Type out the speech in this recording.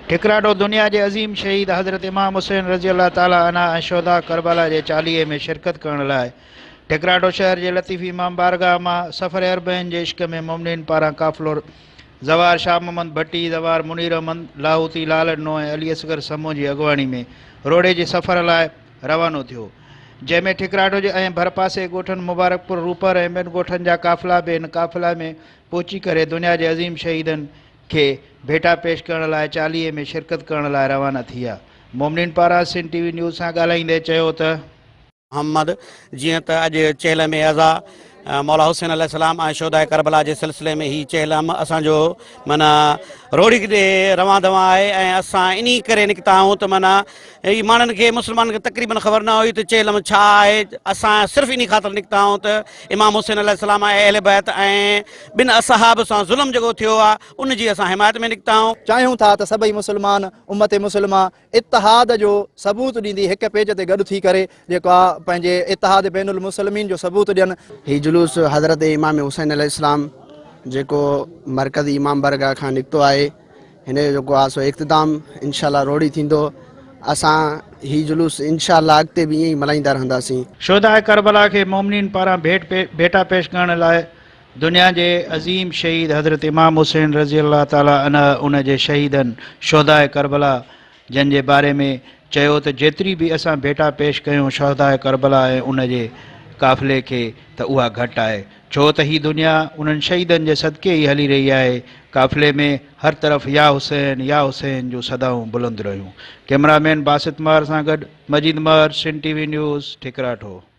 ٺڪراڊو دنيا جي عظيم شهيد حضرت امام حسين رضي الله تعالٰي عنه ۽ شهداء ڪربلا جي چاليهي ۾ شرڪت ڪرڻ لاء ٺڪراڊو شهر جي لطيفي امام بارگاهه مان سفر اربعين جي عشق ۾ مؤمنين پاران قافلو زوار شاهه محمد ڀٽي، زوار منير احمد لاهوتي، لالڏنو ۽ علي اصغر سمون جي اڳواڻي ۾ روهڙي جي سفر لاء روانو ٿيو، جنهن ۾ ٺڪراڊو جي ۽ ڀرپاسي ڳوٺن مبارڪپور، روپر ۽ ٻين ڳوٺن جا قافلا به ان قافلي ۾ پهچي ڪري دنيا جي عظيم شهيدن کي ڀيٽا پيش ڪرڻ لاء چاليهي ۾ شرڪت ڪرڻ لاء روانا ٿيا مومنين پارا سنڌ ٽي وي نيوز سان ڳالهائيندي چيو ته. محمد، جيئن ته اڄ چهل م اعضا مولا حسين عليه السلام ۽ شهداء ڪربلا جي سلسلي ۾ هي چهل م اسان جو معنيٰ روهڙي ڏي روان دوان آهي ۽ اسان انهي ڪري نڪتا آهيون ته معنيٰ هي ماڻهن کي مسلمانن کي تقريبن خبر نه هئي ته چهلم ڇا آهي. اسان صرف انهي خاطر نڪتا هئون ته امام حسين عليه السلام ۽ اهل بيت ۽ ٻن اصحاب سان ظلم جيڪو ٿيو آهي ان جي اسان حمايت ۾ نڪتا هئون. چاهيون ٿا ته سڀئي مسلمان امت مسلمه اتحاد جو ثبوت ڏيندي هڪ پيج تي گڏ ٿي ڪري جيڪو آهي پنهنجي اتحاد بين المسلمين جو ثبوت ڏين. هي جلوس حضرت امام حسين عليه السلام جيڪو مرڪز امام بارگاهه کان نڪتو آهي. هن جو جيڪو آهي سو اختتام انشاء الله روهڙي ٿيندو اسان هي جلوس انشاء الله اڳتي به ائين ئي ملهائيندا رهنداسين. شهداء ڪربلا کي مومنين پاران ڀيٽ ڀيٽا پيش ڪرڻ لاء دنيا جي عظيم شهيد حضرت امام حسين رضي الله تعالٰي عنه ان جي شهيدن شهداء ڪربلا جنھن جي باري ۾ چيو ته جيتري به اسان ڀيٽا پيش ڪيون شھداء ڪربلا ۽ ان جي قافلي کي ته اها گهٽ آهي ڇو ته هي دنيا انهن شھيدن جي صدقي ئي هلي رهي آهي قافلي ۾ هر طرف يا حسين يا حسين جون صدائون بلند رهيون ڪئمرا مين باسط مهر سان گڏ مجيد مهر سنڌ ٽي وي نيوز ٺڪراٺو.